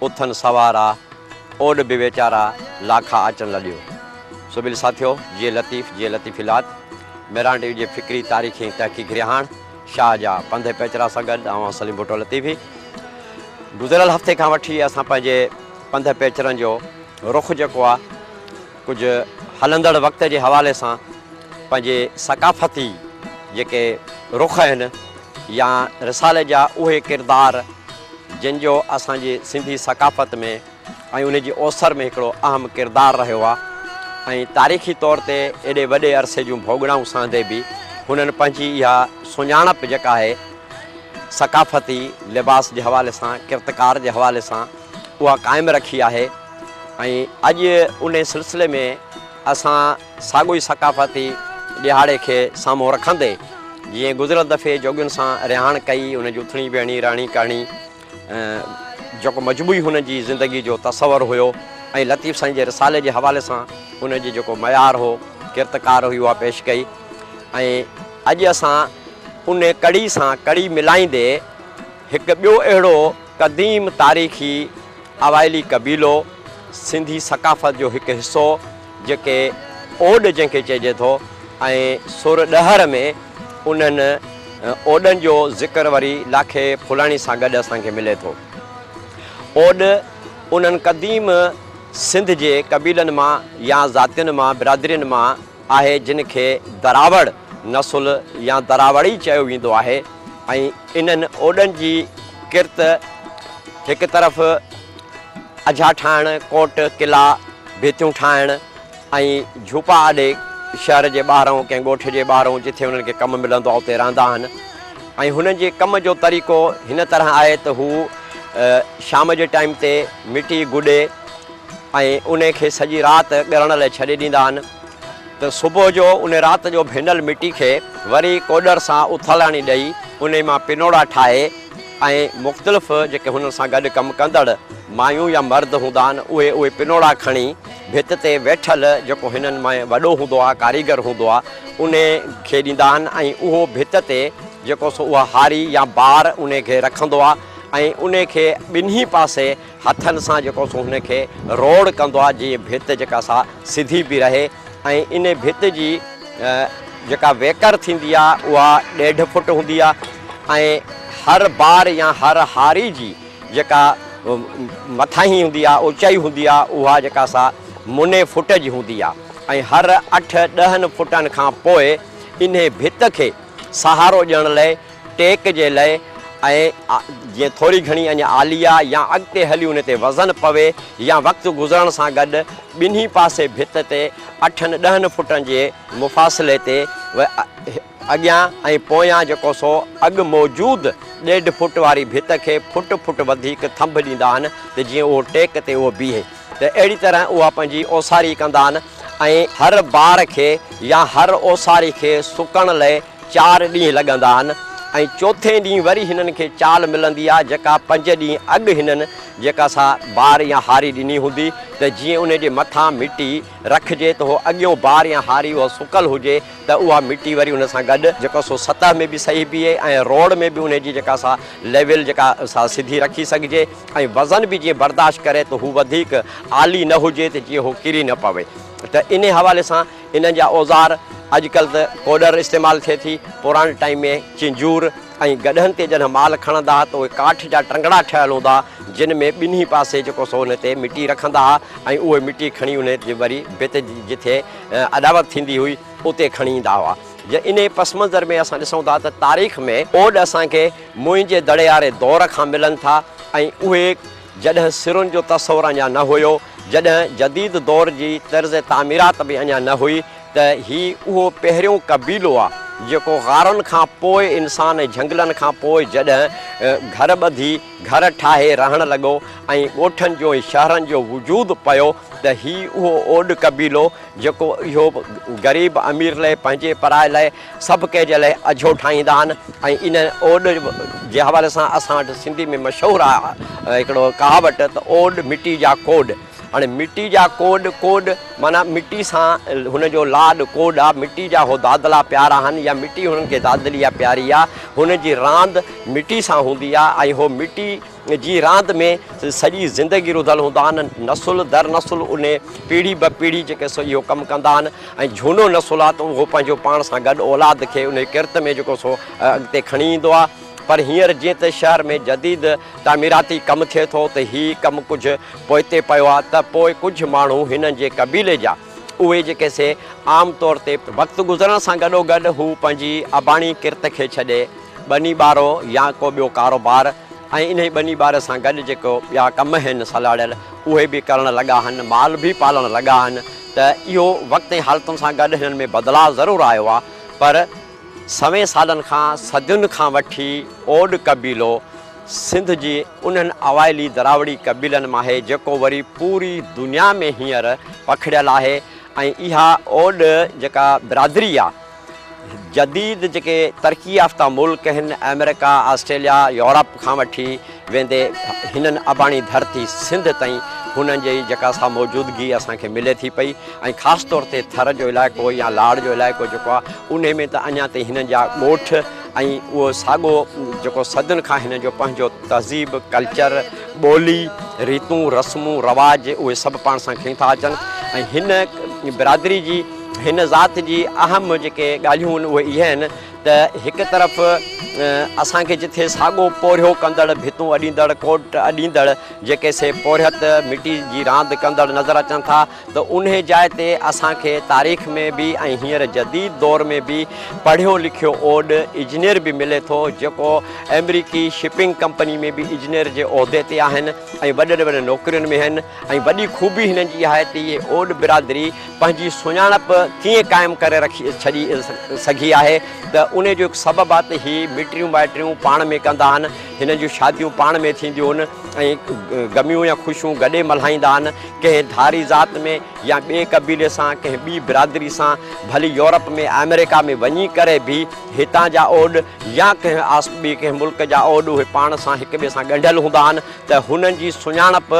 اٿن سوارا، اوڏ به ويچارا، لاکا آچن لڏيو. سبيل ساٿيو، جيئي لطيف، جيئي لطيف الات، ميرانڊيو جي فڪري، تاريخي ۽ تحقيقي رهاڻ، شاهه جا پنڌ پيچرا سان گڏ آئون سليم ڀٽو لطيفي. گذريل هفتي کان وٺي اسان پنهنجي پنڌ پيچرن جو رخ جيڪو آ، ڪجهه هلندڙ وقت جي حوالي سان پنهنجي ثقافتي جيڪي رخ آهن يا رسالي جا اهي ڪردار جن جو اسان جي سنڌي ثقافت ۾ ۽ ان جي اوسر ۾ هڪڙو اهم ڪردار رهيو آهي ۽ تاريخي طور تي ايڏي وڏي عرصي جون ڀوڳنائون سهندي به هنن پنهنجي اها سڃاڻپ جيڪا آهي ثقافتي لباس جي حوالي سان ڪرتڪار جي حوالي سان اها قائم رکي آهي اڄ انهي سلسلي ۾ اسان ساڳيو ئي ثقافتي ڏهاڙي کي سامهون رکندي جيئن گذريل دفعي جوڳين سان رهاڻ ڪئي انهن جي اٿڻي ويهڻي رهڻي ڪهڻي جيڪو مجموعي هن جي زندگي جو تصور هيو ۽ لطيف سائين جي رسالي جي حوالي سان ان جي جيڪو معيار هو ڪرت ڪار هئي اها پيش ڪئي ۽ اڄ اسان انهي ڪڙي سان ڪڙي ملائيندي هڪ ٻيو اهڙو قديم تاريخي اوائلي قبيلو، سنڌي ثقافت جو هڪ حصو جيڪي اوڏ جنهن کي چئجي ٿو ۽ سر ڏهر ۾ انهن اوڏن جو ذڪر وري لاکي ڦولاڻي سان گڏ اسان کي ملي ٿو. اوڏ انهن قديم سنڌ جي قبيلن مان يا ذاتين مان، برادرين مان، آهي جن کي دراوڙ نسل يا دراوڙي چيو ويندو آهي ۽ انهن اوڏن جي ڪرت هڪ طرف اجها ٺاهڻ، ڪوٽ، قلعا، ڀيتيون ٺاهڻ ۽ جهوپا آڏي شهر جي ٻاهرئون ڪنهن ڳوٺ جي ٻاهرئون جٿي انهن کي ڪم ملندو آهي اتي رهندا آهن ۽ هنن جي ڪم جو طريقو هن طرح آهي ته هو شام جي ٽائيم تي مٽي گڏي ۽ ان کي سڄي رات ڳرڻ لئه ڇڏي ڏيندا آهن ته صبح جو ان رات جو ڀينل مٽي کي وري ڪوڏر سان اٿالاڻي ڏئي انهي مان پنوڙا ٺاهي ۽ مختلف جيڪي هنن سان گڏ ڪم ڪندڙ مايون يا مرد هوندا آهن اهي اهي پنوڙا کڻي ڀت تي ويٺل جيڪو هنن ۾ وڏو هوندو آهي ڪاريگر هوندو آهي انهي کي ڏيندا آهن ۽ اهو ڀت تي جيڪو سو اها هاري يا بار انهي کي رکندو آهي ۽ انهي کي ٻنهي پاسي هٿن سان جيڪو سو هن کي روڙ ڪندو آهي جيئن ڀت جيڪا سا سڌي بي رهي ۽ ان ڀت جي جيڪا ويڪر ٿيندي آهي اها ڏيڍ فٽ هوندي آهي ۽ هر بار يا هر هاري جي جيڪا مٿاهين هوندي آهي اوچائي هوندي آهي اها جيڪا سا مني فٽ جي هوندي آهي ۽ هر اٺ ڏهن فٽن کان پوء انهي ڀت کي سهارو ڏيڻ لئي ٽيڪ جي لئه ۽ جيئن ٿوري گهڻي اڃ عاليه يا اڳتي هلي ان تي وزن پوي يا وقت گذرڻ سان گڏ ٻنهي پاسي ڀت تي اٺن ڏهن فٽن جي مفاصلي تي اڳيان ۽ پويان جيڪو سو اڳ موجود ڏيڍ فٽ واري ڀت کي فٽ فٽ وڌيڪ ٿنڀ ڏيندا آهن ته جيئن اهو ٽيڪ تي اهو بيهي ته اهڙي طرح اها پنهنجي اوساري ڪندا آهن ۽ هر بار کي يا هر اوساري کي سڪڻ لئه چار ڏينهن لڳندا آهن ۽ چوٿين ڏينهن وري هنن کي چال ملندي آهي جيڪا پنج ڏينهن اڳ هنن جيڪا سا بار يا هاري ڏني هوندي ته جيئن ان جي مٿان مٽي رکجي ته هو اڳيون بار يا هاري اها سڪل هجي ته اها مٽي وري ان سان گڏ جيڪا سو سطح ۾ به صحيح بيهي ۽ روڙ ۾ به ان جي جيڪا سا ليول جيڪا سا سڌي رکي سگهجي ۽ وزن به جيئن برداشت ڪري ته هو وڌيڪ عالي نه هجي ته جيئن هو ڪري نه پوي ته انهي حوالي سان انهن جا اوزار اڄڪلهه ته ڪوڏر استعمال ٿئي ٿي، پراڻي ٽائيم ۾ چنجور ۽ گڏهن تي جڏهن مال کڻندا ها ته اهي ڪاٺ جا ٽنگڙا ٺهيل هوندا جن ۾ ٻنهي پاسي جيڪو سو انهي تي مٽي رکندا ها ۽ اهي مٽي کڻي انهي جي وري ڀت جٿي اڏاوت ٿيندي هئي اتي کڻي ايندا هئا جي انهي پس منظر ۾ اسان ڏسون ٿا ته تاريخ ۾ اوڏ اسان کي موئن جي دڙي واري دور کان ملن ٿا ۽ اهي جڏهن سرن جو تصور اڃا نه هيو، جڏهن جديد دور جي طرز تعميرات به اڃا نه هئي ته هي اهو پهريون قبيلو آ جيڪو غارن کان پوء انسان ۽ جهنگلن کان پوء جڏهن گهر ٻڌي، گهر ٺاهي رهڻ لڳو ۽ ڳوٺن جو ۽ شهرن جو وجود پيو ته هي اهو اوڏ قبيلو جيڪو اهو غريب امير لئه پنهنجي پرائي لئه سڀ ڪنهن جي لاء اجهو ٺاهيندا آهن ۽ ان اوڏ جي حوالي سان اسان وٽ سنڌي ۾ مشهور آهي هڪڙو ڪهاوٽ ته اوڏ مٽي جا ڪوڏ هاڻي مٽي جا ڪوڏ ڪوڏ معنيٰ مٽي سان هن جو لاڏ ڪوڏ آهي مٽي جا هو دادلا پيارا آهن يا مٽي هنن کي دادلي يا پياري آهي هن جي راند مٽي سان هوندي آهي ۽ هو مٽي جي راند ۾ سڄي زندگي رڌل هوندا آهن نسل در نسل ان پيڙهي به پيڙهي جيڪي سو اهو ڪم ڪندا آهن ۽ جهونو نسل آهي ته اهو پنهنجو پاڻ سان گڏ اولاد کي ان ڪرت ۾ جيڪو سو اڳتي کڻي ايندو آهي پر هينئر جيئن ته شهر ۾ جديد تعميراتي ڪم ٿئي ٿو ته هي ڪم ڪجهه پوئتي پيو آهي ته پوء ڪجهه ماڻهو هنن جي قبيلي جا اهي جيڪي سي عام طور تي وقت گذرڻ سان گڏوگڏ هو پنهنجي اباڻي ڪرت کي ڇڏي ٻني ٻارو يا ڪو ٻيو ڪاروبار ۽ انهي ٻني ٻاري سان گڏ جيڪو ٻيا ڪم هين سلهاڙيل اهي به ڪرڻ لڳا هن مال به پالڻ لڳا هن ته اهو وقت ۽ حالتن سان گڏ هنن ۾ بدلاء ضرور آيو آ پر سوين سالن کان صدين کان وٺي اوڏ قبيلو سنڌ جي انهن اوائلي دراوڙي قبيلن مان آهي جيڪو وري پوري دنيا ۾ هينئر پکڙيل آهي ۽ اها اوڏ جيڪا برادري آ جديد جيڪي ترقي يافته ملڪ هن آمريڪا آسٽريليا يورپ کان وٺي ويندي هنن اباڻي ڌرتي سنڌ تائين هنن جي جيڪا سا موجودگي اسان کي ملي ٿي پئي ۽ خاص طور تي ٿر جو علائقو يا لاڙ جو علائقو جيڪو آ انهي ۾ ته اڃا تائين هنن جا ڳوٺ ۽ اهو ساڳو جيڪو صدين کان هن جو پنهنجو تهذيب، ڪلچر، ٻولي، ريتون، رسمون، رواج اهي سڀ پاڻ سان کڻي ٿا اچن ۽ هن برادري جي هن ذات جي اهم جيڪي ڳالهيون آهن اهي اهي آهن ته هڪ طرف اسان کي جتي ساڳو پورهيو ڪندڙ ڀتون اڏيندڙ ڪوٽ اڏيندڙ جيڪي سي پورهيت مٽي جي راند ڪندڙ نظر اچن ٿا ته انهي جاء تي اسان کي تاريخ ۾ به ۽ هينئر جديد دور ۾ به پڙهيو لکيو اوڏ اجنير به ملي ٿو جيڪو آمريڪي شپنگ ڪمپني ۾ به اجنير جي عهدي تي آهن ۽ وڏن وڏن نوڪرين ۾ آهن ۽ وڏي خوبي هنن جي اها آهي ته اهي اوڏ برادري پنهنجي سڃاڻپ ڪيئن قائم ڪري رکي ڇڏي سگهي آهي ته انهي جو هڪ سبب آهي ته هي مٽريون مائٽريون پاڻ ۾ ڪندا آهن هنن جون شاديون پاڻ ۾ ٿينديون آهن ۽ غميون يا خوشيون گڏي ملهائيندا آهن. ڪنهن ڌاري ذات ۾ يا ٻئي قبيلي سان ڪنهن ٻي برادري سان ڀلي يورپ ۾ آمريڪا ۾ وڃي ڪري به هتان جا اوڏ يا ڪنهن آس ٻي ڪنهن ملڪ جا اوڏ اهي پاڻ سان هڪ ٻئي سان ڳنڍيل هوندا آهن ته هنن جي سڃاڻپ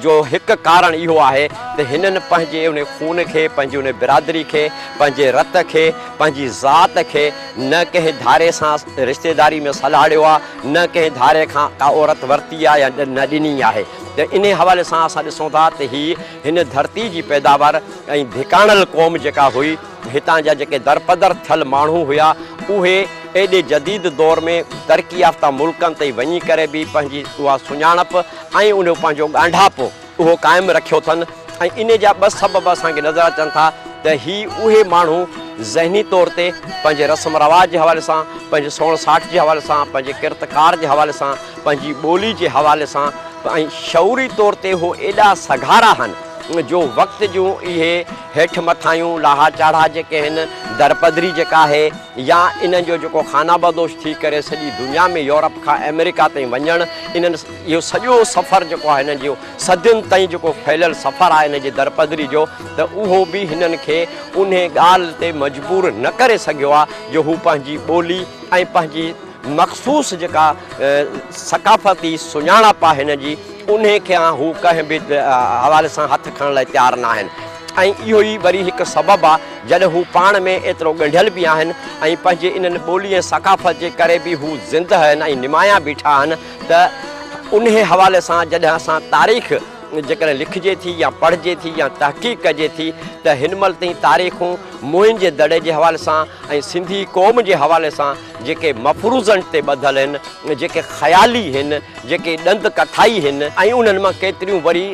جو هڪ ڪارڻ اهو آهي ته هنن پنهنجي انهي خون کي پنهنجي انهي برادري کي پنهنجي رت کي پنهنجي ذات کي نه ڪنهن ڌاري سان رشتيداري ۾ سلهاڙيو آهي نه ڪنهن ڌاري کان ڪا عورت ورتي آهي يا نه ڏني آهي ته انهي حوالي سان اسان ڏسون ٿا ته هي هن ڌرتي جي پيداوار ۽ ڌڪاڻل قوم جيڪا هئي هتان جا جيڪي درپدر ٿيل ماڻهو هيا اهي ايڏي جديد دور ۾ ترقي يافته ملڪن تي وڃي ڪري به پنهنجي اها سڃاڻپ ۽ انهيو پنهنجو ڳانڍاپو اهو قائم رکيو ٿن ۽ انهي جا ٻه سبب اسان کي نظر اچن ٿا ته هي اهي ماڻهو ذهني طور تي پنهنجي رسم رواج جي حوالي سان پنهنجي سوڻ ساٺ جي حوالي سان پنهنجي ڪرت ڪار جي حوالي سان پنهنجي ٻولي جي حوالي سان ۽ شعوري طور تي هو ايڏا سگهارا هن جو وقت جون اهي هيٺ مٿايون لاها چاڙها جيڪي هن درپدري جيڪا آهي يا انهن جو جيڪو خانابدوش ٿي ڪري سڄي دنيا ۾ يورپ کان آمريڪا تائين وڃڻ انهن اهو سڄو سفر جيڪو آهي هنن جو صدين تائين جيڪو ڦهليل سفر آهي هن جي درپدري جو ته اهو به هنن کي انهي ڳالهه تي مجبور نه ڪري سگهيو آهي جو هو پنهنجي ٻولي ۽ پنهنجي مخصوص جيڪا ثقافتي سڃاڻپ آهي هن جي، انهي کي هو ڪنهن به حوالي سان هٿ کڻڻ لاء تيار نه آهن ۽ اهو ئي وري هڪ سبب آ جڏهن هو پاڻ ۾ ايترو ڳنڍيل به آهن ۽ پنهنجي انهن ٻولي ۽ ثقافت جي ڪري به هو زندهه آهن ۽ نمايان بيٺا آهن ته انهي حوالي سان جڏهن اسان تاريخ جيڪڏهن لکجي ٿي يا پڙهجي ٿي يا تحقيق ڪجي ٿي ته هن مهل تائين تاريخون موئن جي دڙي جي حوالي سان ۽ سنڌي قوم جي حوالي سان جيڪي مفروضن تي ٻڌل هن، جيڪي خيالي هن، جيڪي ڏند ڪٿائي هن ۽ انهن مان ڪيتريون وري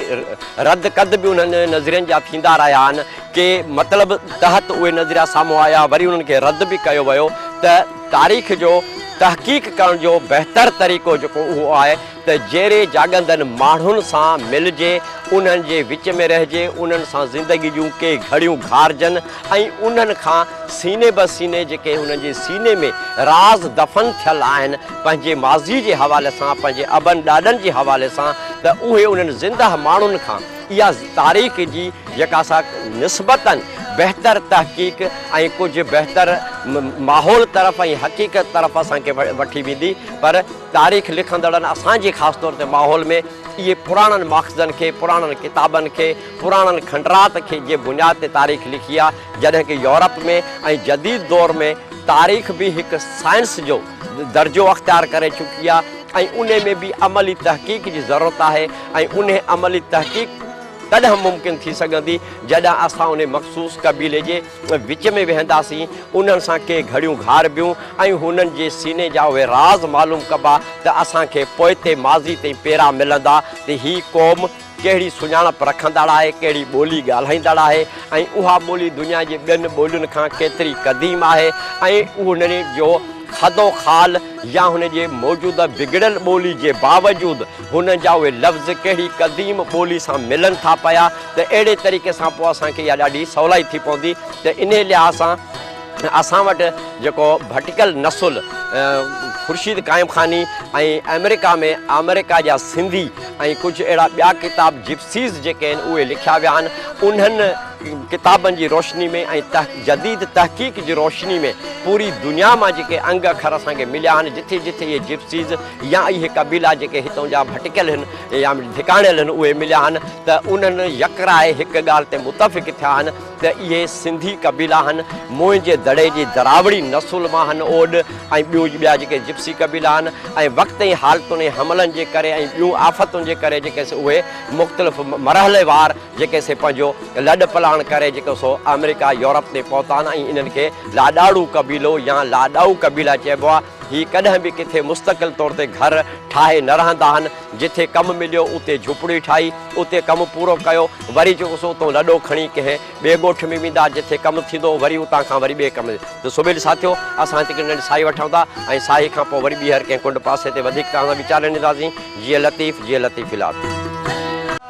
رد ڪد به انهن نظرين جا ٿيندا رهيا آهن. ڪي مطلب تحت اهي نظريا سامهون آيا، وري انهن کي رد به ڪيو ويو ته تاريخ جو تحقيق ڪرڻ جو بهتر طريقو جيڪو اهو آهي، ته جيري جاڳندن ماڻهن سان ملجي، انهن جي وچ ۾ رهجي، انهن سان زندگي جون ڪي گهڙيون گهارجن ۽ انهن کان سيني به سيني جيڪي انهن جي سيني ۾ راز دفن ٿيل آهن، پنهنجي ماضي جي حوالي سان، پنهنجي ابن ڏاڏن جي حوالي سان ته اهي انهن زندهه ماڻهن کان اها تاريخ جي جيڪا سا نسبتاً بهتر تحقيق ۽ ڪجهه بهتر ماحول طرف ۽ حقيقت طرف اسان کي وٺي ويندي پر تاريخ لکندڙن اسان جي خاص طور تي ماحول ۾ اهي پراڻن ماخذن کي، پراڻن ڪتابن کي، پراڻن کنڊرات کي جي بنياد تي تاريخ لکي آهي، جڏهن ڪه يورپ ۾ ۽ جديد دور ۾ تاريخ به هڪ سائنس جو درجو اختيار ڪري چڪي آهي ۽ انهي ۾ به عملي تحقيق جي ضرورت آهي ۽ انهي عملي تحقيق تڏهن ممڪن ٿي سگهندي جڏهن اسان انهي مخصوص قبيلي جي وچ ۾ ويهنداسين، انهن سان ڪي گهڙيون گهاربيون ۽ هنن جي سيني جا اهي راز معلوم ڪبا ته اسان کي پوئتي ماضي تائين پيرا ملندا ته هي قوم ڪهڙي سڃاڻپ رکندڙ آهي، ڪهڙي ٻولي ڳالهائيندڙ آهي ۽ اها ٻولي دنيا جي ٻين ٻولين کان ڪيتري قديم آهي ۽ انهن جو خدو خال يا هن جي موجوده بگڙيل ٻولي جي باوجود هن جا اهي لفظ ڪهڙي قديم ٻولي سان ملن ٿا پيا ته اهڙي طريقي سان پوء اسان کي اها ڏاڍي سولائي ٿي پوندي ته انهي لحاظ سان اسان وٽ جيڪو ڀٽڪل نسل خورشيد قائم خاني ۽ آمريڪا ۾ آمريڪا جا سنڌي ۽ ڪجهه اهڙا ٻيا ڪتاب جپسيز جيڪي آهن اهي لکيا ويا آهن انهن ڪتابن جي روشني ۾ ۽ جديد تحقيق جي روشني ۾ پوري دنيا مان جيڪي انگ اکر اسان کي مليا آهن جتي جتي اهي جپسيز يا اهي قبيلا جيڪي هتان جا ڀٽڪيل هن يا ڌڪاڻيل هن اهي مليا هن ته انهن يڪراء هڪ ڳالهه تي متفق ٿيا هن ته اهي سنڌي قبيلا هن موئن جي دڙي جي دراوڙي نسل مان هن اوڏ ۽ ٻيو ٻيا جيڪي جپسي قبيلا هن ۽ وقت ۽ حالتن ۽ حملن جي ڪري ۽ ٻيون آفتن جي ڪري جيڪي سي اهي مختلف مرحلي وار جيڪي سي پنهنجو لڏ پلاڻ ڪري جيڪو سو آمريڪا يورپ تي پهتا هن ۽ انهن کي لاڏاڙو قبيلو يا لاڏائو قبيلا چئبو آهي هي ڪڏهن به ڪٿي مستقل طور تي گهر ٺاهي نه رهندا آهن، جتي ڪم مليو اتي جهوپڙي ٺاهي، اتي ڪم پورو ڪيو، وري جيڪو سو اتئون لڏو کڻي ڪنهن ٻئي ڳوٺ ۾ ويندا، جتي ڪم ٿيندو وري اتان کان وري ٻئي ڪم تي سوڀيل ساٿيو، اسان هتي هڪڙي ننڍي ساهي وٺون ٿا ۽ ساهي کان پوء وري ٻيهر ڪنهن ڪنڊ پاسي تي وڌيڪ توهان سان ويچار رنيداسين، جيئي لطيف، جيئي لطيف الات.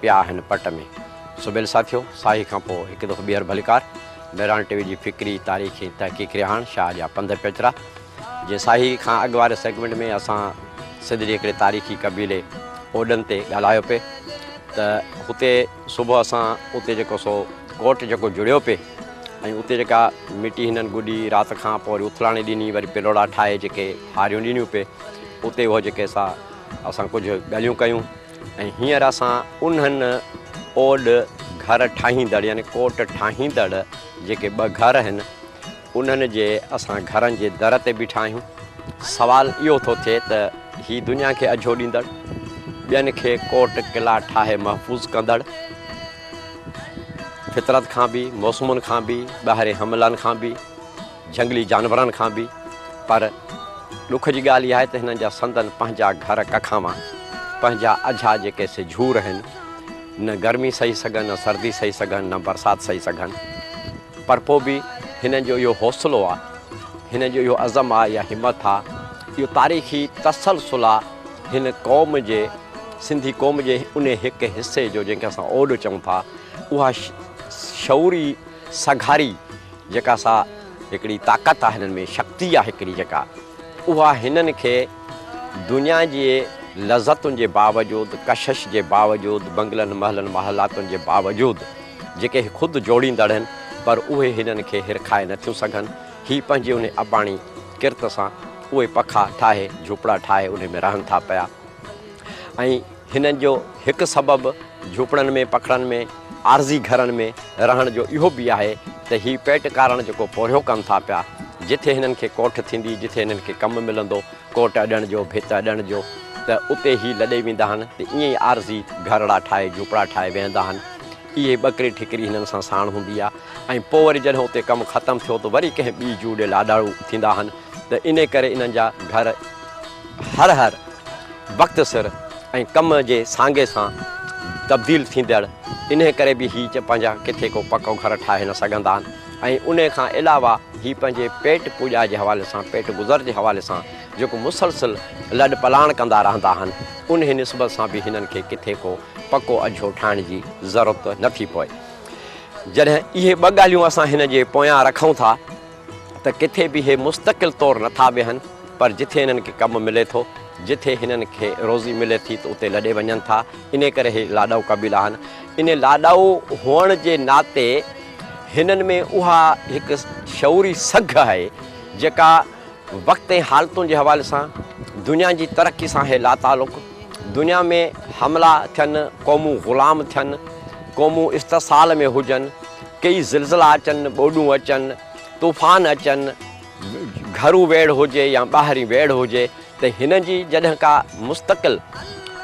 پيا هن پٽ ۾. سبيل ساٿيو! ساهي کان پوء هڪ دفعو ٻيهر ڀليڪار. ميراڻ ٽي وي جي فڪري، تاريخي ۽ تحقيقي رهاڻ شاهه جا پنڌ پيچرا. جيئن ساهي کان اڳ واري سيگمينٽ ۾ اسان سنڌ جي هڪڙي تاريخي قبيلي اوڏن تي ڳالهايو پي ته هتي صبح اسان اتي جيڪو سو ڪوٽ جيڪو جڙيو پي ۽ اتي جيڪا مٽي هنن گڏي رات کان پوء وري اٿلاڻي ڏني وري پلوڙا ٺاهي جيڪي هاريون ڏنيون پي اتي اهو جيڪي سا اسان ڪجهه ڳالهيون ڪيون. ۽ هينئر اسان انهن اوڏ گهر ٺاهيندڙ يعني ڪوٽ ٺاهيندڙ جيڪي ٻه گهر آهن انهن جي اسان گهرن جي در تي بيٺا آهيون. سوال اهو ٿو ٿئي ته هي دنيا کي اجهو ڏيندڙ، ٻين کي ڪوٽ قلعا ٺاهي محفوظ ڪندڙ، فطرت کان به، موسمن کان به، ٻاهرين حملن کان به، جهنگلي جانورن کان به پر ڏک جي ڳالهه اها آهي ته هنن جا سندن پنهنجا گهر ڪکاوا پنهنجا اجها جيڪي سي جهور هن نه گرمي سهي سگهن نه سردي سهي سگهن نه برسات سهي سگهن پر پوء به هنن جو اهو حوصلو آهي هنن جو اهو عزم آهي يا همت آهي اهو تاريخي تسلسل آهي هن قوم جي سنڌي قوم جي ان هڪ حصي جو جنهن کي اسان اوڏ چئون ٿا اها شعوري سگهاري جيڪا سا هڪڙي طاقت آهي هنن ۾ شڪتي آهي هڪڙي جيڪا اها هنن کي دنيا جي لذتن جي باوجود ڪشش جي باوجود بنگلن محلن محلاتن جي باوجود جيڪي خود جوڙيندڙ هن پر اهي هنن کي هرکائي نه ٿيون سگهن هي پنهنجي انهي اباڻي ڪرت سان اهي پکا ٺاهي جهوپڙا ٺاهي انهي ۾ رهن ٿا پيا. ۽ هن جو هڪ سبب جهوپڙن ۾ پکڙن ۾ عارضي گهرن ۾ رهڻ جو اهو به آهي ته هي پيٽ ڪارڻ جيڪو پورهيو ڪن ٿا پيا جتي هنن کي ڪوٺ ٿيندي جتي هنن کي ڪم ملندو ڪوٽ اڏڻ جو ڀت اڏڻ جو ته اتي هي لڏي ويندا آهن ته ائين ئي عارضي گهرڙا ٺاهي جهوپڙا ٺاهي ويهندا آهن اهي ٻڪري ٺڪري هنن سان ساڻ هوندي آهي ۽ پوء وري جڏهن اتي ڪم ختم ٿيو ته وري ڪنهن ٻي جوء ڏي لاڏاڙو ٿيندا آهن ته انهي ڪري انهن جا گهر هر هر وقت سر ۽ ڪم جي سانگي سان تبديل ٿيندڙ انهي ڪري به هي پنهنجا ڪٿي ڪو پڪو گهر ٺاهي نه سگهندا آهن ۽ انهي کان علاوه هي پنهنجي پيٽ پوڄا جي حوالي سان پيٽ گذر جي حوالي سان جيڪو مسلسل لڏ پلاڻ ڪندا رهندا آهن انهي نسبت سان به هنن کي ڪٿي ڪو پڪو اجهو ٺاهڻ جي ضرورت نه ٿي پوي جڏهن اهي ٻه ڳالهيون اسان هن جي پويان رکون ٿا. ته ڪٿي به هي مستقل طور نه ٿا ويهن پر جٿي هنن کي ڪم ملي ٿو، جٿي هنن کي روزي ملي ٿي ته اتي لڏي وڃن ٿا، انهي ڪري هي لاڏائو قبيلا آهن، انهي لاڏائو هئڻ جي ناتي هنن ۾ اها هڪ شعوري سگهه آهي جيڪا وقت ۽ حالتن جي حوالي سان دنيا جي ترقي سان آهي لاتعلق، دنيا ۾ حملا ٿين، قومون غلام ٿين، قومون استحصال ۾ هجن، ڪيئي زلزلا اچن، ٻوڏون اچن، طوفان اچن، گهرو ويڙهه هجي يا ٻاهرين ويڙهه هجي ته هنن جي جڏهن ڪا مستقل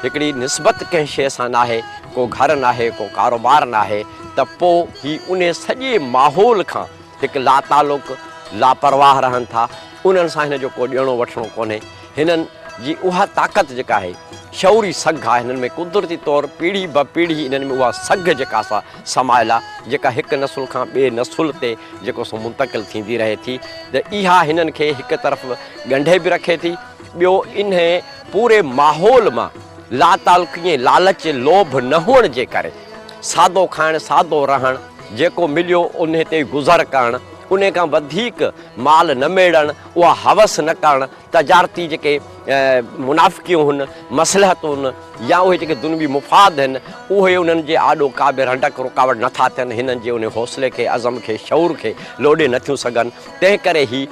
هڪڙي نسبت ڪنهن شيء سان ناهي، ڪو گهر ناهي، ڪو ڪاروبار ناهي ته پوء هي انهي سڄي ماحول کان هڪ لاتعلق، لاپرواهه رهن ٿا، انهن سان هن جو ڪو ڏيڻو وٺڻو ڪونهي. هنن جي اها طاقت جيڪا آهي شعوري سگهه آهي هنن ۾ قدرتي طور پيڙهي به پيڙهي هنن ۾ اها سگهه جيڪا سا سمايل آهي جيڪا هڪ نسل کان ٻئي نسل تي جيڪو سو منتقل ٿيندي رهي ٿي ته اها هنن کي هڪ طرف ڳنڍي به رکي ٿي ٻيو انهي پوري ماحول مان لاتعلقي ۽ لالچ لوڀ نه هئڻ جي ڪري سادو کائڻ سادو رهڻ جيڪو مليو انهي تي گذر ڪرڻ انهي کان وڌيڪ مال نه ميڙڻ اها هوس نه ڪرڻ، تجارتي جيڪي منافقيون هن، مصلحتون هن يا اهي جيڪي دنوي مفاد هن، اهي انهن جي آڏو ڪا به رنڊڪ، رڪاوٽ، نه ٿا ٿين، هنن جي انهي حوصلي کي، عزم کي، شعور کي لوڏي نه ٿيون سگهن، تنهن ڪري هي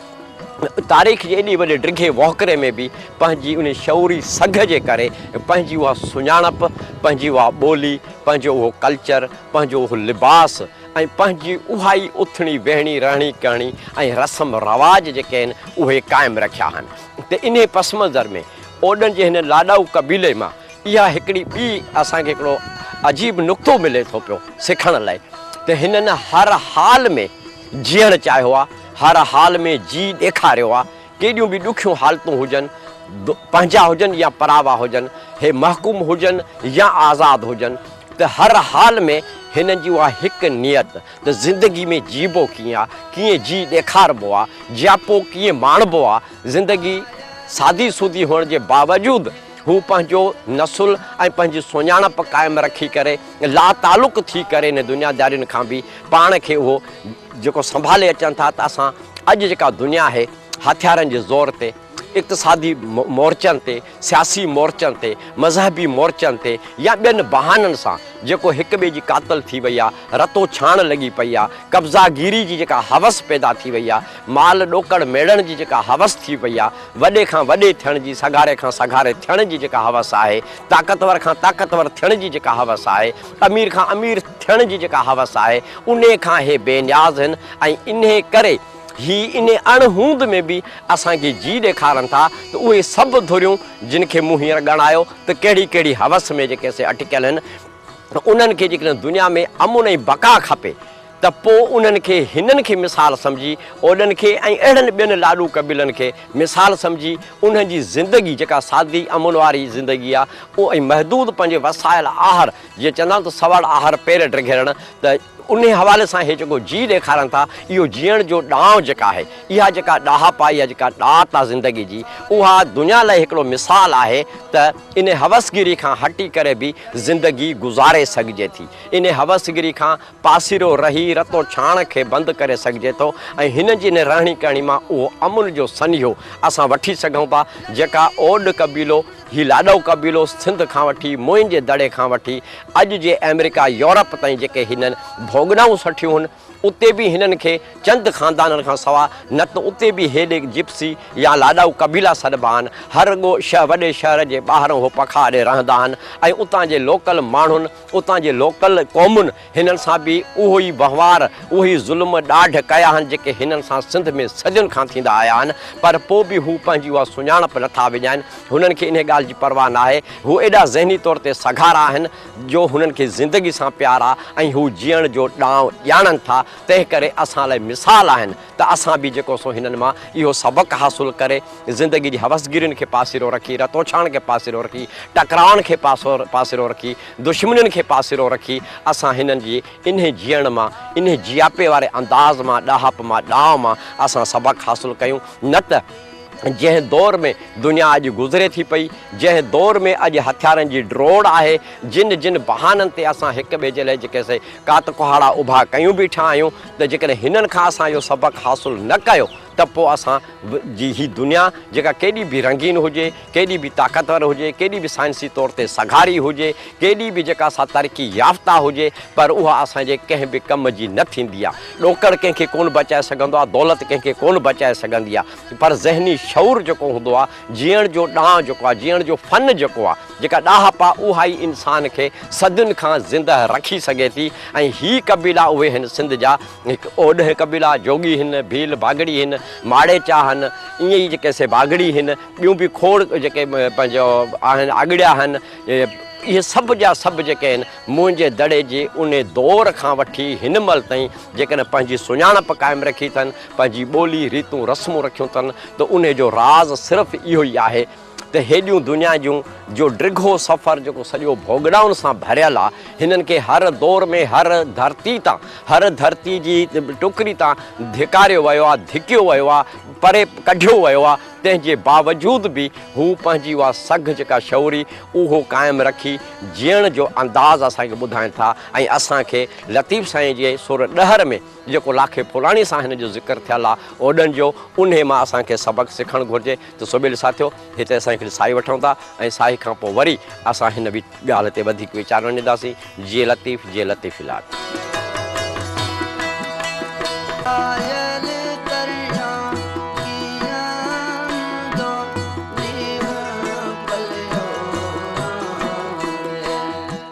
تاريخ جي ايڏي وڏي ڊگهي وهڪري ۾ به پنهنجي انهي شعوري سگهه جي ڪري پنهنجي اها سڃاڻپ، پنهنجي اها ٻولي، پنهنجو اهو ڪلچر، پنهنجو اهو لباس، ۽ پنهنجي اها ئي اٿڻي ويهڻي، رهڻي ڪهڻي ۽ رسم رواج جيڪي آهن اهي قائم رکيا آهن ته انهي پس منظر ۾ اوڏن جي هن لاڏائو قبيلي مان اها هڪڙي ٻي اسان کي هڪڙو عجيب نڪتو ملي ٿو پيو سکڻ لئي ته هنن هر حال ۾ جيئڻ چاهيو آهي، هر حال ۾ جي ڏيکاريو آهي، ڪيڏيون به ڏکيون حالتون هجن، پنهنجا هجن يا پراوا هجن، هي محڪوم هجن يا آزاد هجن، ته هر حال ۾ هنن جي اها هڪ نيت ته زندگي ۾ جيئبو ڪيئن آ، ڪيئن جيئي ڏيکاربو آ، جياپو ڪيئن ماڻبو آ، زندگي سادي سودي هئڻ جي باوجود هو پنهنجو نسل ۽ پنهنجي سڃاڻپ قائم رکي ڪري لاتعلق ٿي ڪري هن دنيادارين کان به پاڻ کي اهو جيڪو سنڀالي اچن ٿا ته اسان اڄ جيڪا دنيا آهي هٿيارن جي زور تي اقتصادي مورچن تي سياسي مورچن تي مذهبي مورچن تي يا ٻين بهانن سان جيڪو هڪ ٻئي جي قاتل ٿي وئي آهي رتو ڇاڻ لڳي پئي آهي قبضا گيري جي جيڪا هوس پيدا ٿي وئي آهي مال ڏوڪڙ ميڙڻ جي جيڪا هوس ٿي پئي آهي وڏي کان وڏي ٿيڻ جي سگهاري کان سگهاري ٿيڻ جي جيڪا هوس آهي طاقتور کان طاقتور ٿيڻ جي جيڪا هوس آهي امير کان امير ٿيڻ جي جيڪا حوس آهي انهي کان هي بي نياز هن ۽ انهي ڪري هي انهي اڻ هوند ۾ به اسان کي جي ڏيکارن ٿا ته اهي سڀ ڌريون جن کي مون هينئر ڳڻايو ته ڪهڙي ڪهڙي حوس ۾ جيڪي سي اٽڪيل هن انهن کي جيڪڏهن دنيا ۾ امن ۽ بقا کپي ته پوء انهن کي هنن کي مثال سمجهي، اوڏن کي ۽ اهڙن ٻين لاڏو قبيلن کي مثال سمجهي، انهن جي زندگي جيڪا سادي امن واري زندگي آهي اهو ۽ محدود پنهنجي وسائل آهر جيئن چوندا آهن ته سوڙ آهر پير ڊگهيرڻ ته انهي حوالي سان هي جيڪو جيء ڏيکارن ٿا اهو جيئڻ جو ڏانء جيڪا آهي اها جيڪا ڏاهپائي يا جيڪا ڏات آهي زندگي جي اها دنيا لاء هڪڙو مثال آهي ته انهي هوسگيري کان هٽي ڪري به زندگي گذاري سگهجي ٿي انهي هوسگيري کان پاسيرو رهي رتو ڇاڻ کي بند ڪري سگهجي ٿو ۽ هن جي ان رهڻي ڪهڻي مان اهو امن جو سنيهو اسان وٺي سگهون ٿا جيڪا اوڏ قبيلو، هي لاڏو قبيلو سنڌ کان وٺي موئن جي دڙي کان وٺي اڄ جي آمريڪا يورپ تائين جيڪي هنن ڀوڳنائون سٺيون هن اتي به هنن کي چند خاندانن کان سوا نه ته اتي به هيڏي جپسي يا لاڏائو قبيلا سڏبا آهن هر رڳو وڏي شهر جي ٻاهران هو پکا اڏي رهندا آهن ۽ اتان جي لوڪل ماڻهن اتان جي لوڪل قومن هنن سان به اهو ئي وهنوار، اهي ئي ظلم ڏاڍ ڪيا آهن، جيڪي هنن سان سنڌ ۾ صدين کان ٿيندا آيا آهن، پر پوء به هو پنهنجي اها سڃاڻپ نه ٿا وڃائين، هنن کي انهي ڳالهه جي پرواهه ناهي، هو ايڏا ذهني طور تي سگهارا آهن، جو هنن کي زندگي سان پيار آهي ۽ هو جيئڻ جو ڏانء ڄاڻن ٿا، تنهنڪري اسان لاء مثال آهن. ته اسان به جيڪو سو هنن مان اهو سبق حاصل ڪري زندگي جي حوسگيرين کي پاسيرو رکي، رتوڇاڻ کي پاسيرو رکي، ٽڪرائن کي پاسيرو رکي، دشمنين کي پاسيرو رکي اسان هنن جي انهي جيئڻ مان، انهي جياپي واري انداز مان، ڏاهپ مان، ڏانء مان اسان سبق حاصل ڪيون نه ته جنهن دور ۾ دنيا اڄ گذري ٿي پئي، جنهن دور ۾ اڄ هٿيارن جي ڊوڙ آهي، جن جن بهانن تي اسان هڪ ٻئي جي لاء جيڪي سي ڪات ڪهاڙا اڀا ڪيون بيٺا آهيون، ته جيڪڏهن هنن کان اسان اهو سبق حاصل نه ڪيو ته پوء اسان جي هي دنيا جيڪا ڪيڏي به رنگين هجي، ڪيڏي به طاقتور هجي، ڪيڏي به سائنسي طور تي سگهاري هجي، ڪيڏي به جيڪا سا ترقي يافته هجي پر اها اسان جي ڪنهن به ڪم جي نه ٿيندي آهي. ڏوڪڙ ڪنهن کي ڪونه بچائي سگهندو آهي، دولت ڪنهن کي ڪونه بچائي سگهندي آهي پر ذهني شعور جيڪو هوندو آهي، جيئڻ جو ڏانء جيڪو آهي، جيئڻ جو فن جيڪو آهي، جيڪا ڏاهپ آهي، اها ئي انسان کي صدين کان زندهه رکي سگهي ٿي ۽ هي قبيلا اهي هن سنڌ جا هڪ اوڏهه قبيلا، جوڳي هن، ڀيل ڀاڳڙي هن، ماڙيچا هن، ائين ئي جيڪي سي ڀاڳڙي هن، ٻيون به کوڙ جيڪي پنهنجو آهن، آڳڙيا هن، اهي سڀ جا سڀ جيڪي آهن، موئنجي دڙي جي انهي دور کان وٺي هن مهل تائين جيڪڏهن پنهنجي سڃاڻپ قائم رکي اٿن، پنهنجي ٻولي، ريتون رسمون رکيون اٿن ته انهي جو راز صرف اهو ئي آهي ته هيڏيون دنيا جون جو ڊگهو سفر جيڪو سڄو ڀوڳڙائن سان ڀريل آ هنن کي هر دور ۾ هر ڌرتي تان هر ڌرتي جي ٽڪري تان ڌڪاريو ويو آ ڌڪيو ويو آ پري ڪڍيو ويو آ تنهن جي باوجود به هو پنهنجي اها سگهه جيڪا شعوري اهو قائم رکي جيئڻ جو انداز اسان کي ٻڌائين ٿا ۽ اسان کي لطيف سائين جي سر ڏهر ۾ جيڪو لاکي پراڻي سان هن جو ذڪر ٿيل آ اوڏن جو انهي مان اسان کي سبق سکڻ گهرجي ته سوڀيل ساٿيو هتي اسان هڪڙي ساهي وٺون ٿا ۽ ساهي کان پوء وري اسان هن وي ڳالهه تي وڌيڪ ويچار وڃيداسين جي لطيف جي لطيف الاٽ.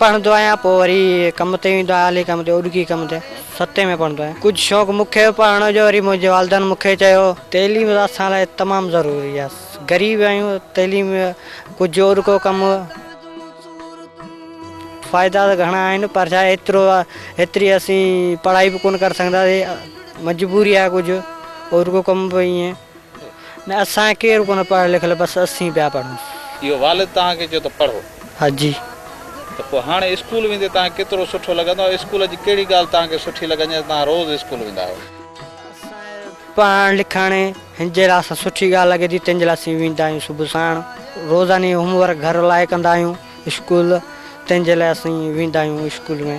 پڙهندو آهيان پوء وري ڪم تي ويندو آهيان الي ڪم تي اوڏڪي ڪم تي ستين ۾ پڙهندو آهيان ڪجهه شوق مون کي به پڙهڻ جو وري منهنجي والدن مون کي چيو تعليم اسان لاء تمام ضروري آهي غريب آهيون تعليم ڪجهه اوڏڪو ڪم فائدا ته گهڻا آهن پر ڇا ايترو ايتري اسين پڙهائي به ڪونه ڪري سگهنداسين مجبوري آهي ڪجهه اوڏڪو ڪم به ائين نه اسان ڪير ڪونه پڙهيل لکيل بس اسين پيا پڙهون. اهو والد توهان کي چيو ته پڙهو. ها جي. ته پوء هاڻي اسڪول ويندي توهان کي ڪيترو سٺو لڳندو ۽ اسڪول جي ڪهڙي ڳالهه توهان کي سٺي لڳندي ته توهان روز اسڪول ويندا آهيو. اسان کي پڙهڻ لکڻ هن جي لحاظ سان سٺي ڳالهه لڳي ٿي تنهن جي لاء اسين ويندا آهيون صبح ساڻ روزاني هوم ورڪ گهر لاء ڪندا آهيون. اسڪول تنهن جي لاء اسين ويندا آهيون اسڪول ۾.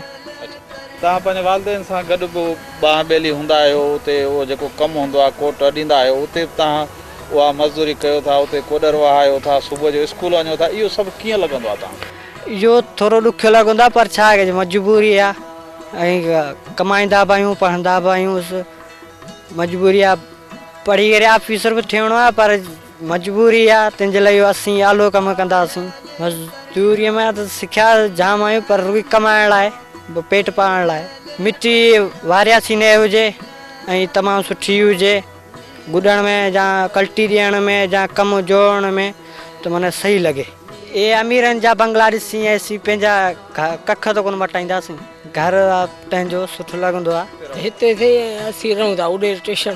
توهان پنهنجي والدين سان گڏ به ٻانهن ٻيلي هوندا آهيو اتي اهو جيڪو ڪم هوندو آهي ڪوٽ اڏيندا آهيو اتي به توهان اها مزدوري ڪيو ٿا اتي ڪوڏر وهايو ٿا صبح جو اسڪول وڃو ٿا اهو سڀ ڪيئن لڳندو آهي توهان کي؟ اهو ٿورو ڏکيو لڳندو آهي پر ڇا ڪجي مجبوري آهي ۽ ڪمائيندا به آهيون پڙهندا به آهيون مجبوري آهي پڙهي ڪري آفيسر به ٿيڻو آهي پر مجبوري آ تنهنجي لاء اسين آلو ڪم ڪنداسين. مزدوريء مان ته سکيا جام آهيون پر روئي ڪمائڻ لاء به پيٽ پالڻ لاء مٽي وارياسين نئه هجي ۽ تمام سٺي هجي گڏڻ ۾ جا ڪلٽي ڏيڻ ۾ جا ڪم جوڙڻ ۾ ته منهن صحيح لڳي. اي اميرن جا بنگلا ڏسين اسين پنهنجا ڪک ته ڪونه مٽائينداسين. گهر آ پنهنجو سٺو لڳندو آ. هتي ٿي اسين رهون ٿا اڏي اسٽيشن.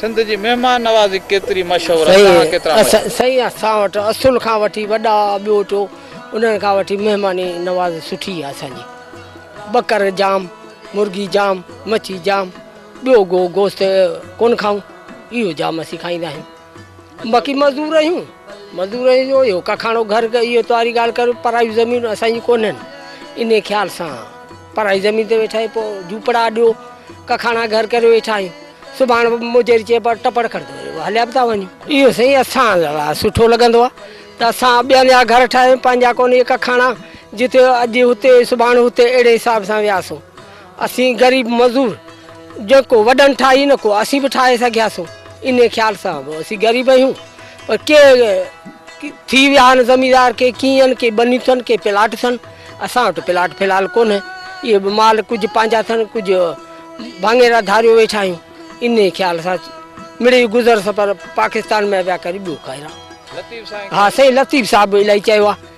سنڌ جي مهمان نوازي ڪيتري مشهور آهي توهان ڪيترا مشهور. سائين اسان وٽ اصل کان وٺي وڏا ٻوٽو انهن کان وٺي مهماني نوازي سٺي آهي اسان جي ٻڪر جام مرغي جام مڇي جام ٻيو گو گوشت ڪونه کائون اهو جام اسين کائيندا آهيون. باقي مزور آهيون مزور آهيون جو اهو ڪکاڻو گهر اهو تواري ڳالهه ڪر پرائيون زمينون اسان جون ڪونهن انهي خيال سان پرائي زمين تي ويٺا آهيون پوء جهوپڙا ڏيو ڪکاڻا گهر ڪري ويٺا آهيون سڀاڻ مجري چئبو آهي ٽپڙ کڻ هليا به ٿا وڃون اهو سائين اسان لاء سٺو لڳندو آهي ته اسان ٻين جا گهر ٺاهيون پنهنجا ڪونهي ڪکاڻا جتي اڄ هتي سڀاڻ هتي اهڙي حساب سان وياسون اسين غريب مزور جيڪو وڏن ٺاهي نه ڪو اسين به ٺاهي سگهيا سون ان خيال سان به اسين غريب آهيون پر ڪي ٿي ويا آهن زميندار ڪي ڪيئن آهن ڪي ٻنيون اٿن ڪي پلاٽ اٿن اسان وٽ پلاٽ في الحال ڪونهي اهي به مال ڪجهه پنهنجا اٿن ڪجهه ڀاڱيرا ڌاريو ويٺا آهيون ان خيال سان مڙي گذر سفر پاڪستان ۾ ويا ڪري ٻيو کائي رهو لطيف سائين ها سائين لطيف صاحب الاهي چيو آهي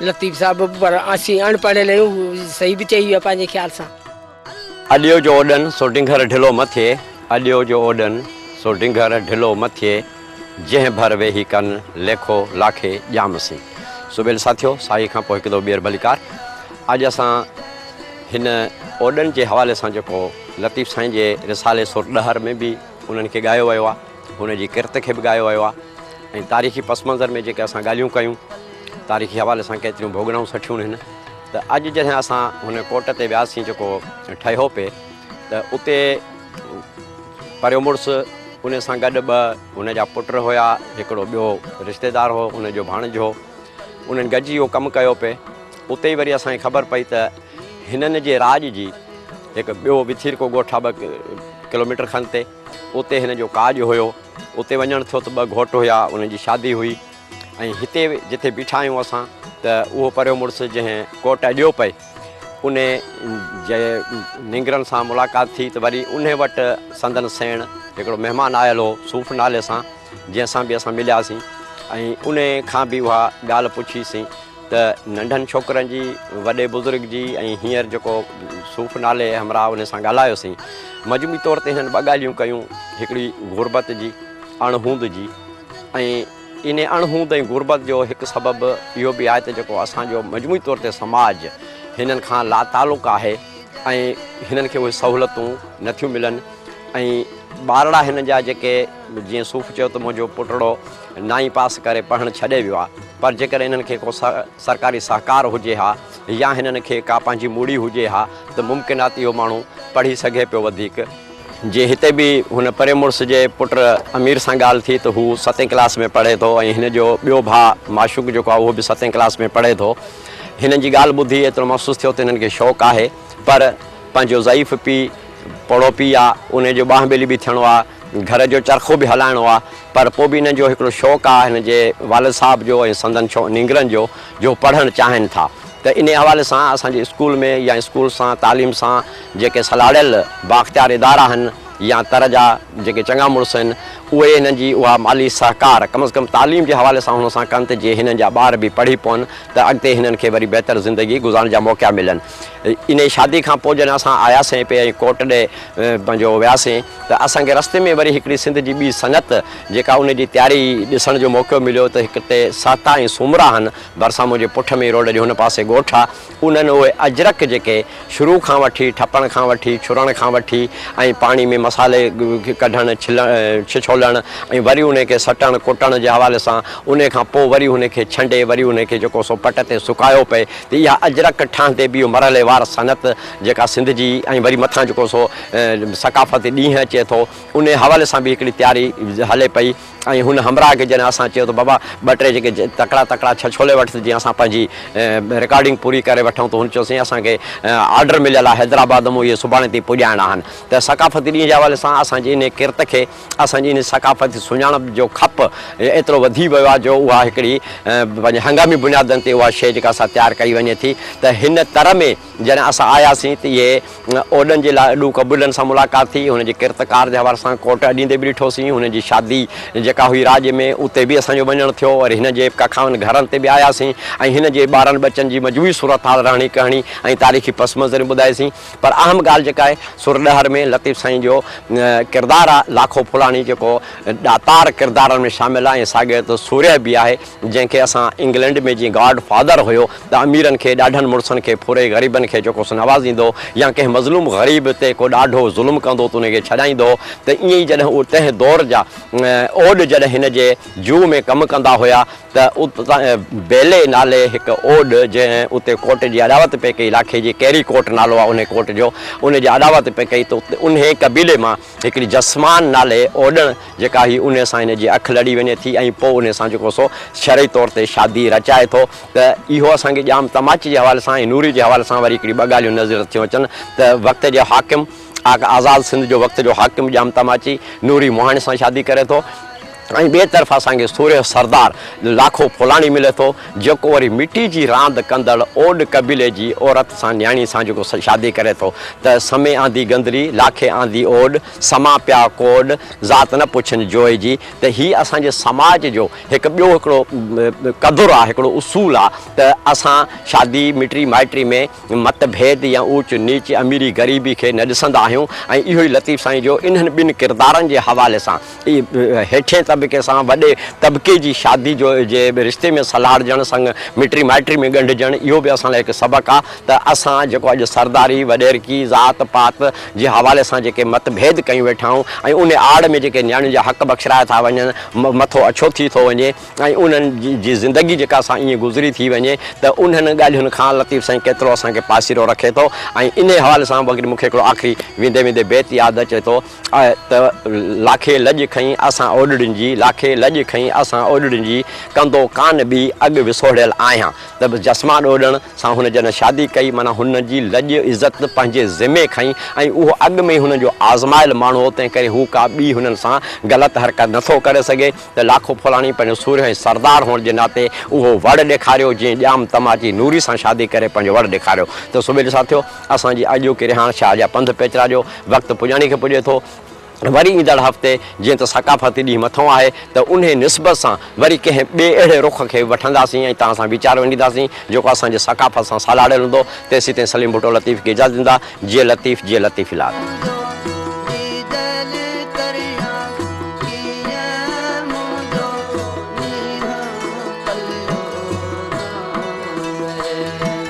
لطيف صاحب پر اسين اڻ پڙهيل آهيون هو صحيح به چئي ويو آهي پنهنجي خيال سان. اڏيو جو اوڏن سو ڊنگر ڍلو مٿي اڏيو جو اوڏن سو ڊنگر ڍلو مٿي جنهن ڀر ويهي ڪن ليکو لاکي ڄام سين سبيل ساٿيو ساهي کان پوء هڪ دو ٻيهر ڀليڪار اڄ اسان هن اوڏن جي حوالي سان جيڪو لطيف سائين جي رسالي سر ڏهر ۾ به انهن کي ڳايو ويو آهي هن جي ڪرت کي به ڳايو ويو آهي ۽ تاريخي پس منظر ۾ جيڪي اسان ڳالهيون ڪيون تاريخي حوالي سان ڪيتريون ڀوڳنائون سٺيون هن ته اڄ جڏهن اسان هن ڪوٽ تي وياسين جيڪو ٺهيو پئي ته اتي پريو مڙس ان سان گڏ ٻه هن جا پٽ هيا هڪڙو ٻيو رشتيدار هو ان جو ڀاڻج هو انهن گڏجي اهو ڪم ڪيو پئي اتي وري اسان کي خبر پئي ته هنن جي راڄ جي هڪ ٻيو وٿيرڪو ڳوٺ آهي ٻه ڪلوميٽر کن تي اتي هن جو ڪاڄ هيو. اتي وڃڻ ٿيو ته ٻه گهوٽ هيا، انهن جي شادي هئي ۽ هتي جتي بيٺا آهيون اسان ته اهو پريو مڙس جنهن ڪوٽ اڏيو پئي، ان جي نينگرن سان ملاقات ٿي ته وري انهي وٽ سندن سيڻ هڪڙو مهمان آيل هو صوف نالي سان، جنهن سان به اسان ملياسين ۽ انهي کان به اها ڳالهه پڇي سين. ته ننڍن ڇوڪرن جي وڏي بزرگ جي ۽ هينئر جيڪو صوف نالي همراهه انهن سان ڳالهايوسين مجموعي طور تي هنن ٻه ڳالهيون ڪيون هڪڙي غربت جي اڻ هوند جي ۽ ان اڻ هوند ۽ غربت جو هڪ سبب اهو به آهي ته جيڪو اسان جو مجموعي طور تي سماج هنن کان لا تعلق آهي ۽ هنن کي اهي سهولتون نٿيون ملن ۽ ٻارڙا هنن جا جيڪي جيئن صوف چيو ته منهنجو پٽڙو نائين پاس ڪري پڙهڻ ڇڏي ويو آهي پر جيڪڏهن هنن کي ڪو سرڪاري سهڪار هجي ها يا هنن کي ڪا پنهنجي موڙي هجي ها ته ممڪن آهي ته اهو ماڻهو پڙهي سگهي پيو وڌيڪ. جي هتي به هن پرين مڙس جي پٽ امير سان ڳالهه ٿي ته هو ستين ڪلاس ۾ پڙهي ٿو ۽ هن جو ٻيو ڀاء معشوق جيڪو آهي اهو به ستين ڪلاس ۾ پڙهي ٿو. هنن جي ڳالهه ٻڌي ايترو محسوس ٿيو ته هنن کي شوق آهي پر پنهنجو ضعيف پيء پوڙهو پيء آهي انهي جو ٻانهن ٻيلي به ٿيڻو آهي. گهر جو چرخو به هلائڻو آ پر پوء به هنن جو هڪڙو شوق آ هن جي والد صاحب جو ۽ سندن ڇو نينگرن جو جو پڙهڻ چاهين ٿا ته انهي حوالي سان اسان جي اسڪول ۾ يا اسڪول سان تعليم سان جيڪي سلهاڙيل بااختيار ادارا هن يا تر جا جيڪي چڱا مڙس هن اهي هنن جي اها مالي سهڪار ڪم از ڪم تعليم جي حوالي سان هن سان ڪن ته جي هنن جا ٻار به پڙهي پون ته اڳتي هنن کي وري بهتر زندگي گذارڻ جا موقعا ملن. انهيء شاديء کان پوء جڏهن اسان آياسين پئي ۽ ڪوٽ ڏي پنهنجو وياسين ته اسان کي رستي ۾ وري هڪڙي سنڌ جي ٻي سنگت جيڪا ان جي تياري ڏسڻ جو موقعو مليو ته هڪ تي سهتا ۽ سومرا هن ڀرسان منهنجي پٺ ۾ روڊ جي هن پاسي ڳوٺ آ انهن اهي اجرڪ جيڪي شروع کان وٺي ٺپڻ کان وٺي ڇرڻ کان وٺي ۽ پاڻي ۾ مصالحي ڪڍڻ ڇلڻ ڇڇولڻ ۽ وري انهي کي سٽڻ ڪٽڻ جي حوالي سان انهي کان پوء وري هن کي ڇنڊي وري انهي کي جيڪو سو پٽ تي سڪايو پئي تي اها اجرڪ ٺاهندي به اهو مرحلي وار صنعت جيڪا سنڌ جي ۽ وري مٿان جيڪو سو ثقافتي ڏينهن اچي ٿو انهي حوالي سان به هڪڙي تياري هلي پئي ۽ هن همراهه کي جڏهن اسان چيو ته بابا ٻه ٽي جيڪي تڪڙا تڪڙا ڇهه ڇولي وٺ ته جيئن اسان پنهنجي رڪارڊنگ پوري ڪري وٺون ته هن چيو سائين اسان کي آرڊر مليل آهي حيدرآباد مون اهي سڀاڻي تائين پڄائڻا آهن ته ثقافتي ڏينهن جي حوالي سان اسان جي انهي ڪرت کي اسان جي ان ثقافتي سڃاڻپ جو کپ ايترو وڌي ويو آهي جو اها هڪڙي پنهنجي هنگامي بنيادن تي اها شيء جيڪا سا تيار ڪئي وڃي ٿي ته هن تر ۾ جڏهن اسان آياسين ته اهي اوڏن جي لاء اڏو قبيلن سان ملاقات ٿي هن جي ڪرتڪار جي حوالي سان ڪوٽ اڏيندي به ڏٺو سين هن جي شادي جيڪا هئي راڄ ۾ اتي به اسان جو وڃڻ ٿيو وري هن جي ڪکائن گهرن تي به آياسين ۽ هن جي ٻارن ٻچن جي مجموعي صورتحال رهڻي ڪهڻي ۽ تاريخي پس منظريون ٻڌايسين پر اهم ڳالهه جيڪا آهي سو رڏهر ۾ لطيف سائين جو ڪردار آهي لاکو ڦولاڻي جيڪو ڏاتار ڪردارن ۾ شامل آهي ۽ ساڳيو طرح سورهيه به آهي جنهن کي اسان انگلنڊ ۾ جيئن گاڊ فادر هيو ته اميرن کي ڏاڍن مڙسن کي ڦوري غريبن کي جيڪو سو نوازيندو هو يا ڪنهن مظلوم غريب تي ڪو ڏاڍو ظلم ڪندو ته ان کي ڇڏائيندو هو ته ائين ئي جڏهن اهي تنهن دور جا اوڏ جڏهن هن جي جوء ۾ ڪم ڪندا هيا ته اتان بيلي نالي هڪ اوڏ جنهن اتي ڪوٽ جي اڏاوت پئي ڪئي، علاقي جي ڪيري ڪوٽ نالو آهي انهي ڪوٽ جو، ان جي اڏاوت پئي ڪئي ته اتي انهي قبيلي مان هڪڙي جسمان نالي اوڏڻ جيڪا هئي انهي سان هن جي اک لڙي وڃي ٿي ۽ پوء انهي سان جيڪو سو شرعي طور تي شادي رچائي ٿو ته اهو اسان کي ڄام تماچي جي حوالي سان ۽ نوري جي حوالي سان وري هڪڙي ٻه ڳالهيون نظر ٿيون اچن ته وقت جي حاڪم آزاد سنڌ جو وقت جو حاڪم ڄام تماچي نوري مهاڻي سان شادي ڪري ٿو. ۽ ٻئي طرف اسان کي سورهيه سردار لاکو ڦولاڻي ملي ٿو، جيڪو وري مٽي جي راند ڪندڙ اوڏ قبيلي جي عورت سان نياڻي سان جيڪو شادي ڪري ٿو ته، سمي آندي گندري، لاکي آندي اوڏ، سما پيا ڪوڏ، ذات نه پڇن جوء جي ته هي اسان جي سماج جو هڪ ٻيو هڪڙو قدر آهي، هڪڙو اصول آهي ته اسان شادي مٽي مائٽي ۾ مت ڀيد يا اوچ نيچ، اميري غريبي کي نه ڏسندا آهيون ۽ اهو ئي لطيف سائين جو انهن ٻن ڪردارن جي حوالي سان هيٺين طبقي سان وڏي طبقي جي شادي جو جي رشتي ۾ سلهاڙجڻ سڱ مٽري مائٽري ۾ ڳنڍجڻ اهو به اسان لاء هڪ سبق آ ته اسان جيڪو اڄ سرداري، وڏيرڪي، ذات پات جي حوالي سان جيڪي مت ڀيد ڪيون ويٺا آهيون ۽ انهي آڙ ۾ جيڪي نياڻين جا حق بخشرايا ٿا وڃن، مٿو اڇو ٿي ٿو وڃي ۽ انهن جي زندگي جيڪا سا ائين گذري ٿي وڃي ته انهن ڳالهين کان لطيف سائين ڪيترو اسان کي پاسيرو رکي ٿو ۽ انهي حوالي سان وڳري مون کي هڪڙو آخري ويندي ويندي بيت ياد اچي ٿو. آء ته لاکي لڄ کنئي اسان اوڏڙين جي، لاکي لڄ کنئي اسان اوڏڙين جي، ڪندو ڪانه ٻي اڳ وسوڙيل آهيان. ته به جسمان اوڏڻ سان هن جڏهن شادي ڪئي، معنيٰ هن جي لڄ عزت پنهنجي ذمي کنئي ۽ اهو اڳ ۾ ئي هن جو آزمايل ماڻهو هو، تنهنڪري هو ڪا ٻي هنن سان غلط حرڪت نه ٿو ڪري سگهي، ته لاکو ڦولاڻي پنهنجو سورهيه ۽ سردار هئڻ جي ناتي اهو وڙ ڏيکاريو، جئين ڄام تماچي نوري سان شادي ڪري پنهنجو وڙ ڏيکاريو، ته سوڀيلي سان ٿيو. اسان جي اڄوڪي رهاڻ شاهه جا پنڌ پيچرا جو وقت پڄاڻي کي پڄي ٿو. وري ايندڙ هفتي جيئن ته ثقافتي ڏينهن مٿانهون آهي ته انهيء نسبت سان وري ڪنهن ٻئي اهڙي رخ کي وٺنداسين ۽ توهان سان ويچار ونڊينداسين جيڪو اسان جي ثقافت سان سالاڙيل هوندو. تيسيتائين سليم ڀٽو لطيف کي اجازت ڏيندا. جيئي لطيف جيئي لطيف الاد.